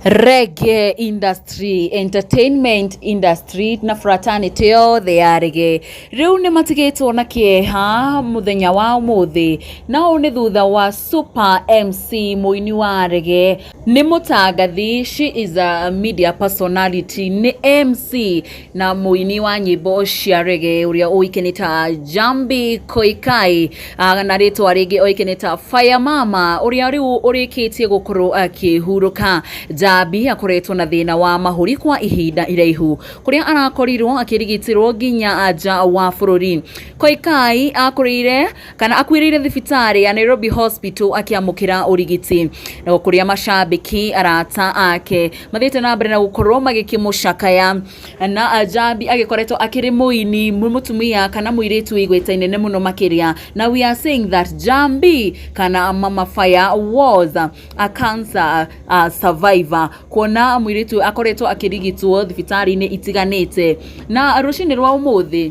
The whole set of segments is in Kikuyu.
Reggae industry, entertainment industry na fraternity yothe ya reggae rĩu nĩ matigĩtwo na kĩeha mũthenya wa ũmũthĩ na ũũ nĩ thutha wa Super MC mũini wa reggae nĩ mũtangathi she is a media personality nĩ MC na mũini wa nyĩmbo cia rege ũrĩa ũĩke nĩ ta Jambi Koikai ah, na rĩtwa rĩngĩ oĩke nĩ ta Fire Mama ũrĩa rĩu ũrĩkĩtie gũkorwo akĩhurũka. Jambi akoretwo na thĩna wa mahũri kwa ihinda iraihu kũrĩa arakorirwo akĩrigitĩrwo nginya nja wa bũrũri. Koikai akũrĩire kana akuĩrĩire thibitarĩ ya Nairobi Hospital akĩamũkĩra ũrigiti no kũrĩa macambĩki arata ake mathiĩte na mbere na gũkorwo magĩkĩmũcakaya na Ajambi agĩkoretwo akĩrĩ mũini mũ- mũtumia kana mũirĩtu igweta inene mũno makĩria na we are saying that Jambi kana Mama Fire was a cancer uh, survivor kuona mũirĩtu akoretwo akĩrigitwo thibitarĩ-inĩ itiganĩte na rũcinĩ rwa ũmũthĩ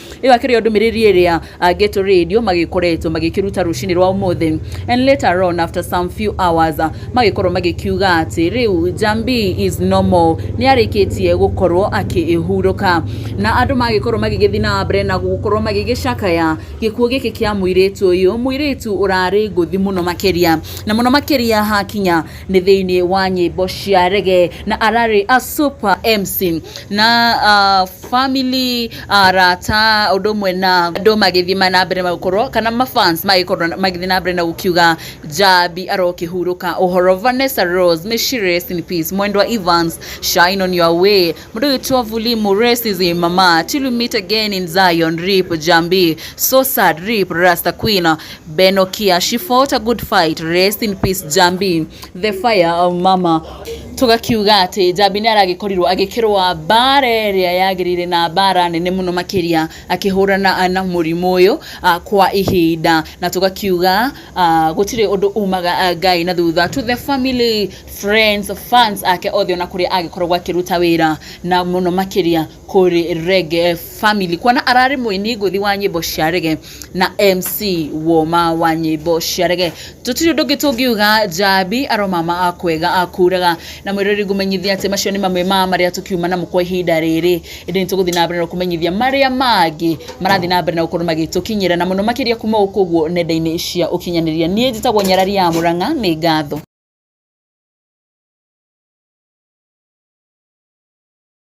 ĩyo akĩrĩ o ndũmĩrĩri ĩrĩa Ghetto Radio magĩkoretwo magĩkĩruta rũcinĩ rwa ũmũthĩ and later on after some few hours magĩkorwo magĩkiuga atĩ rĩu Jambi is normal nĩ arĩkĩtie gũkorwo akĩhurũka na andũ magĩkorwo magĩgĩthiĩ na mbere na gũkorwo magĩgĩcakaya gĩkuũ gĩkĩ kĩa mũirĩtu ũyũ mũirĩtu ũrarĩ ngũthi mũno makĩria na mũno makĩria hakinya nĩ thĩinĩ wa nyĩmbo cia rege na ararĩ a super MC na ah, family arata ũndũ ũmwe na andũ magĩthiĩ na mbere na gũkorwo kana ma fans magĩkorwo magĩthiĩ na mbere na gũkiuga Njambi arokĩhurũka ũhoro Vanessa Rose Mĩcirĩ rest in peace Mwendwa Evans shine on your way mũndũ ũgĩtwo Vulimu rest is in mama till we meet again in Zion rip Njambi so sad rip Rasta Queen Benokia she fought a good fight rest in peace Njambi the fire of mama Tũgakiuga atĩ Njambi nĩ aragĩkorirwo agĩkĩrũa mbara ĩrĩa yagĩrĩire na mbara nene mũno makĩria akĩhũrana na mũrimũ ũyũ kwa ihinda. Na tũgakiuga gũtirĩ ũndũ umaga Ngai na thutha. To the family, friends, fans ake othe ona kũrĩa agĩkoragwo akĩruta wĩra na mũno makĩria... kũrĩ Rege Family kuona ararĩ mũini ngũthi wa nyĩmbo cia Rege na MC woma wa nyĩmbo cia Rege. Tũtirĩ ũndũ ũngĩ tũngiuga Njambi aromama kwega kuraga na mwĩrori ngũmenyithia atĩ macio nĩ mamwe ma marĩa tũkiuma namo kwa ihinda rĩrĩ ĩndĩ nĩtũgũthiĩ na mbere na kũmenyithia marĩa mangĩ marathiĩ na mbere na gũkorwo magĩtũkinyĩra na mũno makĩria kuma gũkũ ũguo nenda-inĩ cia ũkinyanĩria. Niĩ njĩtagwo Nyarari ya Mũrang'a nĩ ngatho.